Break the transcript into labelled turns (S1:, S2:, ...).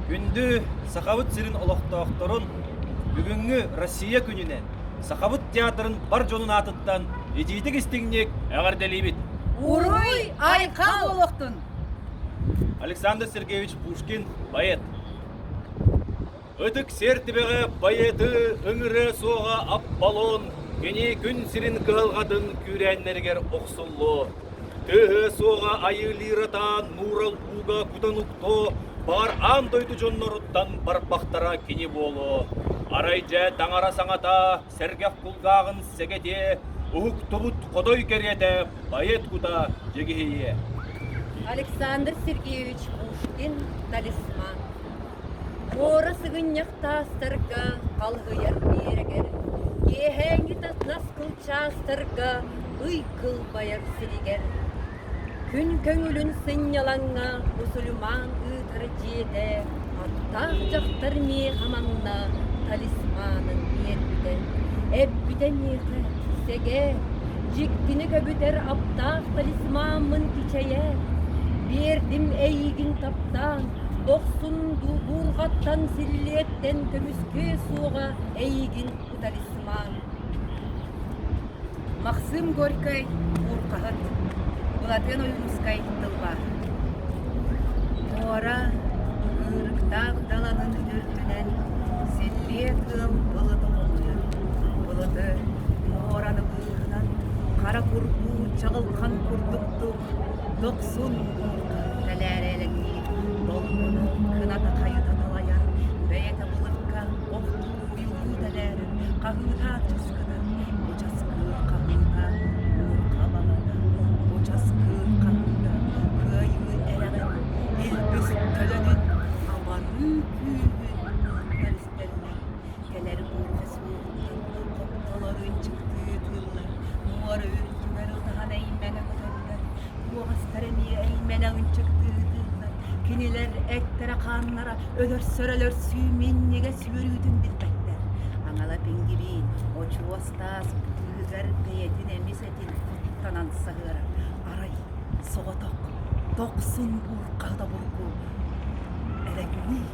S1: Күндү Сахабыт сирин олохтоохторун, бүгүҥҥү Россия күнүнэн Сахабыт театрын бар дьонун аатыттан итиитик-истиҥник эҕэрдэлиибит! Уруй, айхал олохтун! Александр Сергеевич Пушкин, поэт. Ытык сиэр түбэҕэ байыты ыҥырыа суоҕа Аполлон кини күн сирин кыһалҕатын күүрээннэригэр охсуллуо, тыаһыа суоҕа Айыы Лиротаан мурал ууга кутан уктуо, баар аан дойду дьонноруттан барбахтара кини буолуо. Арай дьэ таҥара саҥата, сэргэх кулгааҕын сэгэтиэ, уһуктубут хотой кэриэтэ байыт кута дьигиһийиэ. Александр Сергеевич Пушкин «Талисман» Куора сыгынньах таастарга халыһыйар биэрэгэр, киэһээҥҥитэ тас кылчаастарга ый кылбайар сиригэр, күн көҥүлүн сынньалаҥҥа мусульман ыытара дьиэтэ аттаах дьахтар миэхэ манна талисманын биэрбитэ, эппитэ миэхэ: «Сэгэ, дьиктини көбүтэр аптаах талисмаммын кичэйээт, биэрдим эйиигин таптаан, Дохсун дулҕаттан силлиэттэн көмүскүө суоҕа эйигин утарисмаан Максым Горькай ууркаһыт, Былатыан Ойуунускай тылба Муора ыырыктаах даланын үрдүнэн силлиэ тыал былыта умулуйар. Былыты муораны быыһынан хара курдуу чаҕылхан курдук Дохсун уутун тэлээрэлэтии долгуна кыната хайыта талайан бэйэтэ былакка охтуу уйулуу тэлээрин хаһыытааччы ускатар бу часкыыр хаһыыта муҥха балата бу часкыыр хаһыыта кыайыы эрэҕин илбис төлөнүн абарыы күүһүн ууттар истэллэр кэлэр буолла Олор ынчыктыы тыыллар, муора үрдүгэр утахан эймэҥи көтөллөр, куоҕастар эмиэ эймэнэ ынчыктыы тыыллар, кинилэр эттэрэ-хааннара өлөрсөр-өлөрсүү минньигэс үөрүүтүн билбэттэр. Аҥала пингибиин очуос таас быыһыгар бэйэтин эмис этин куттанан саһыарар. Арай соҕотох тохсун буурҕа тобургу элэҥнии